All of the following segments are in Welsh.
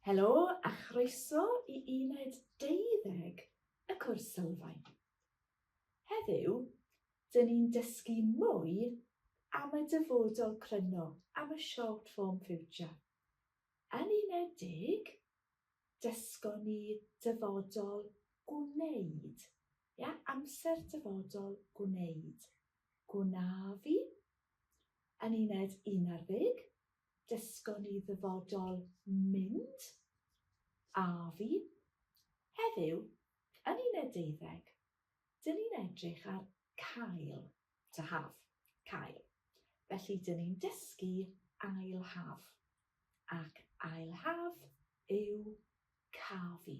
Helo a chroeso i uned deuddeg y cwrs sylfaen. Heddiw, dyn ni'n dysgu mwy am y dyfodol cryno, am y short form future. Yn uned deg, dysgo ni dyfodol gwneud, ia, amser dyfodol gwneud. Gwnafu, yn uned un ar ddeg, dysgon ni ddyfodol mynd, afu, heddiw, yn uned deuddeg, dyn ni'n edrych ar cael, to have, cael. Felly dyn ni'n dysgu I'll have, ac I'll have yw cafu.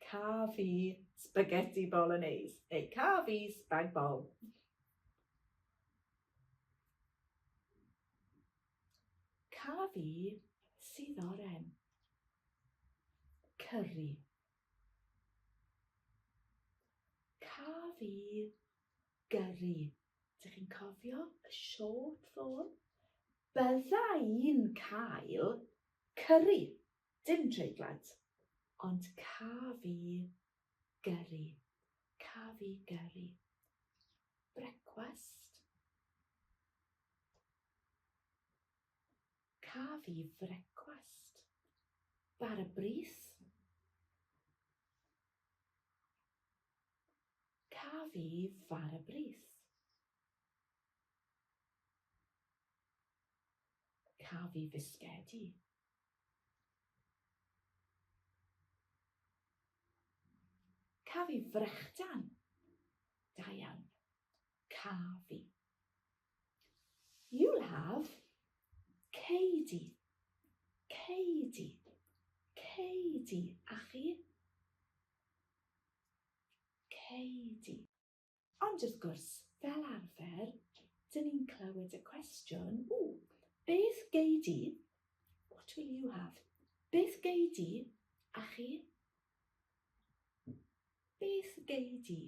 Ca fi spaghetti bolognese. Ei, ca fi spag bol. Ca fi sydd oren. Curry. Ca fi gyrru. Dych chi'n cofio y short form? Bydda i'n cael curry. Dim treiglad, ond ca fi gyrri, ca fi gyrri. Brecwast. Ca fi frecwast. Bar y brith. Ca fi far y brith. Ca fi fisgedi. Caf i frechdan. Da iawn. Caf i. You'll have Cady. Cady. Cady. A chi? Cady. Ond wrth gwrs, fel arfer, dyn ni'n clywed y cwestiwn, o, beth gei di? What will you have? Beth gei di? A chi? Beth gei di?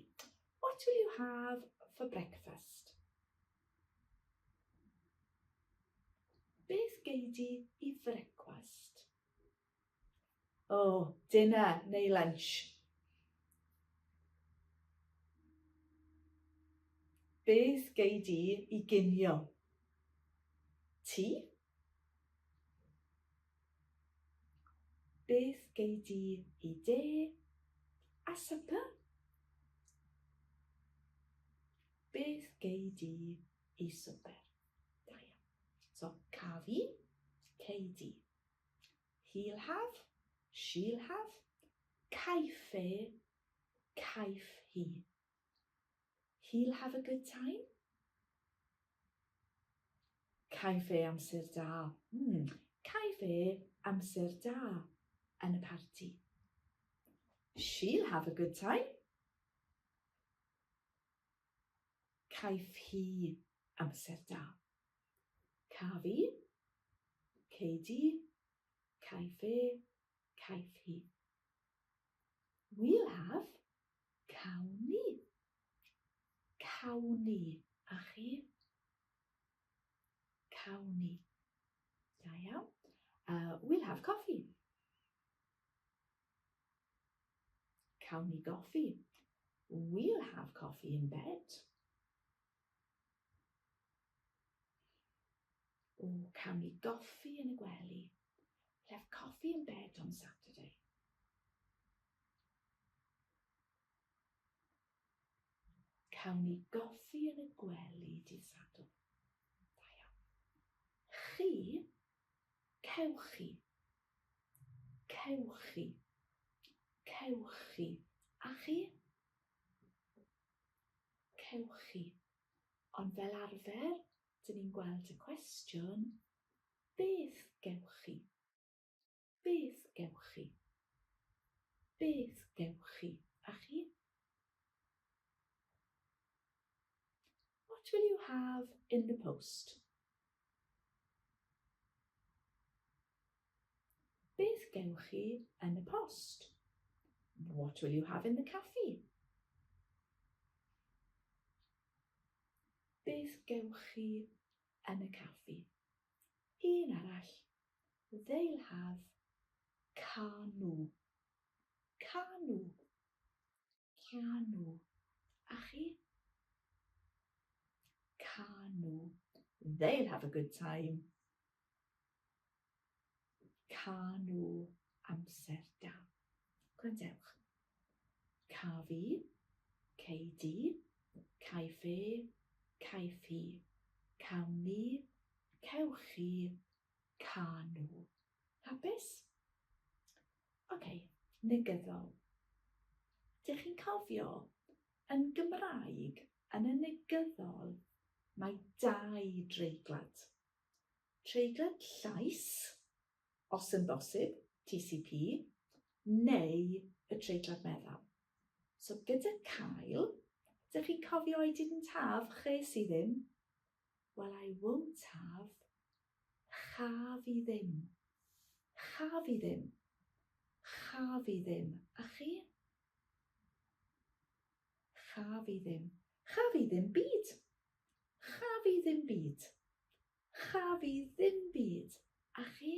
What will you have for breakfast? Beth gei di i frecwast? O, oh, dinner neu lunch. Beth gei di i ginio? Ti? Beth gei di i de a supper? Beth gei di i swper? Da iawn. So, cafi, cei di. He'll have, she'll have, caiff e, caiff hi. He'll have a good time. Caiff e amser da. Hmm, caiff e amser da yn y parti. She'll have a good time. Caiff hi amser da. Caf i. Cei di. Caiff e. Caiff hi. We'll have. Cawn ni. Cawn ni. A chi? Cawn ni. Da iawn. Uh, we'll have coffee. Cawn ni goffi. We'll have coffee in bed. O, cawn ni goffi yn y gwely. We'll have coffee in bed on Saturday. Cawn ni goffi yn y gwely dydd Sadwrn. Da iawn. Chi, cewch chi. Cewch chi. Cewch chi. A chi? cewch chi. Ond fel arfer, dyn ni'n gweld y cwestiwn, beth gewch chi? Beth gewch chi? Beth gewch chi? A chi? What will you have in the post? Beth gewch chi yn y post? What will you have in the caffi? Beth gewch chi yn y caffi? Un arall. They'll have canu. Canu. Canu. A chi? Canu. They'll have a good time. Canu amser da. Gwrandewch. Ca fi, cei di, cai fe, cai fi, cawn ni, cewch chi, canu. Hapus? Ok, negyddol. Dych chi'n cofio, yn Gymraeg, yn y negyddol, mae dau dreiglad. Treiglad llais, os yn bosib, TCP, neu y treiglad meddal. So gyda cael, dych chi'n cofio I didn't have, ches i ddim? Well, I won't have, Chaf i ddim. Chaf i ddim. Chaf i ddim. A chi? Chaf i ddim. Chaf i ddim byd. Chaf i ddim byd. Chaf i ddim byd. A chi?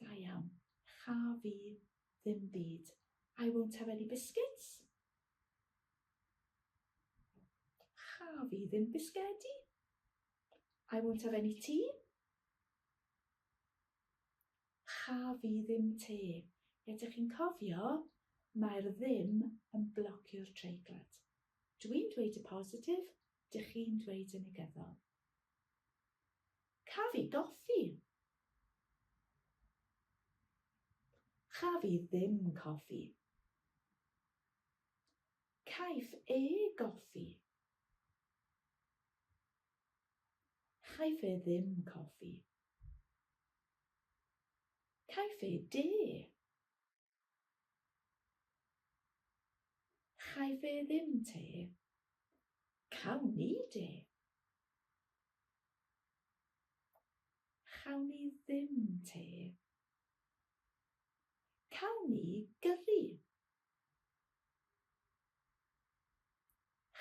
Da iawn. Chaf i ddim byd. I won't have any biscuits. Chaf fi ddim bisgedi. I won't have any tea. Chaf fi ddim te. Ydych chi'n cofio, mae'r ddim yn blocio'r treiglad. Dwi'n dweud y positif, dych chi'n dweud y negyddol. Caf i goffi. Chaf i ddim coffi. Caiff ei goffi. Chaiff e ddim coffi. Caiff e de. Chaiff e ddim te. Cawn ni de. Chawn ni ddim te. Cawn ni gyrru.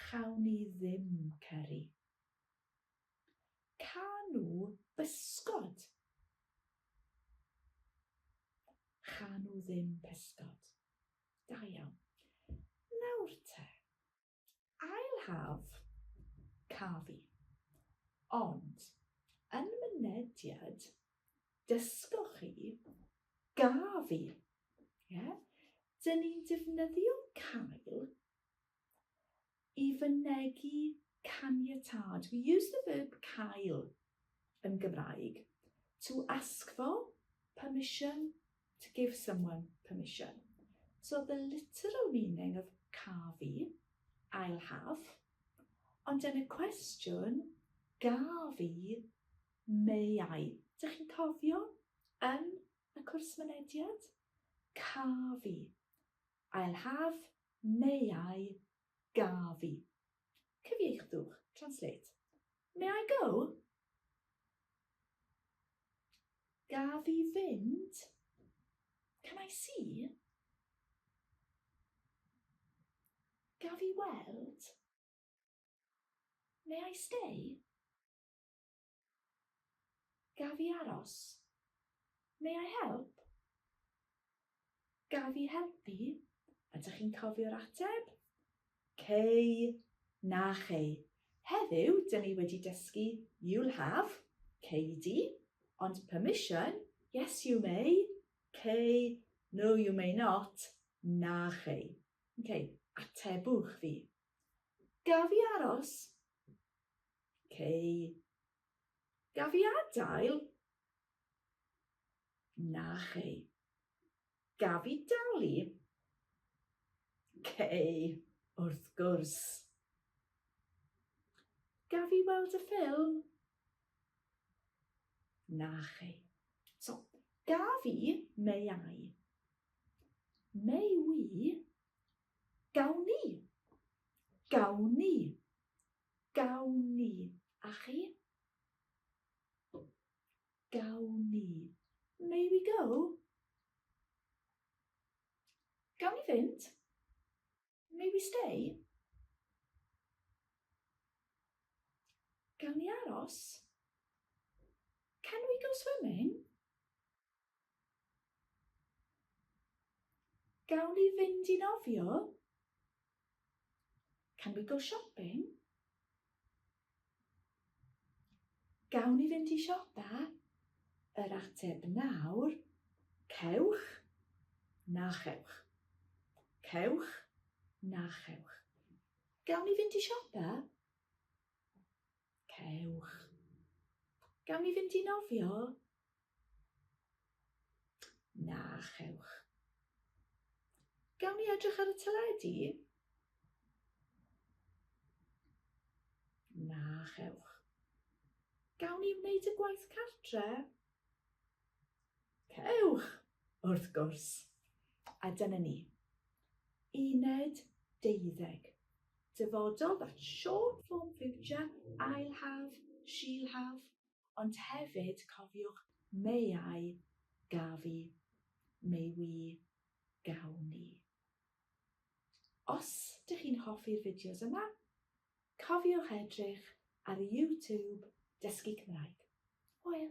Chawn ni ddim ceri. Ca nhw bysgod. Cha nhw ddim pysgod. Da iawn. Nawr te. I'll have coffee. Ond, yn mynediad, dysgoch chi gafi. Yeah? Dyn ni'n defnyddio cael i fynegu caniatad. We use the verb cael yn Gymraeg to ask for permission to give someone permission. So the literal meaning of cafu, I'll have, ond yn y cwestiwn, gaf i, may I. Dych chi'n cofio yn y cwrs mynediad? Caf i. I'll have, may I, gaf i. Cyfieithdwch, translate. May I go? Gaf i fynd? Can I see? Gaf i weld? May I stay? Gaf i aros? May I help? Gaf i helpu? Ydych chi'n cofio'r ateb? Cei, na chei. Heddiw, dyn ni wedi dysgu you'll have, cei di, ond permission, yes you may, cei, no you may not, na chei. Okay, atebwch fi. Gaf i aros? Cei. Gaf i adael? Na chi. Gaf i dalu? Cei, wrth gwrs. Gaf i weld y ffilm? Na chi. So, gaf i, may I. May we, gawn ni. Gawn ni. Gawn ni. A chi? Gawn ni. May we go? Gawn ni fynd? May we stay? Gawn ni aros? Can we go swimming? Gawn ni fynd i nofio? Can we go shopping? Gawn ni fynd i siopa? Yr ateb nawr, cewch na chewch. Cewch na chewch. Gawn ni fynd i siopa? Cewch. Gawn ni fynd i nofio? Na, chewch. Gawn ni edrych ar y teledu? Na, chewch. Gawn ni wneud y gwaith cartre? Cewch, wrth gwrs. A dyna ni. Uned deuddeg. Dyfododd at short form future, I'll have, she'll have, Ond hefyd, cofiwch, may I, gaf i, may we, gawn ni. Os dych chi'n hoffi'r fideos yma, cofiwch edrych ar YouTube Dysgu Cymraeg. Hwyl!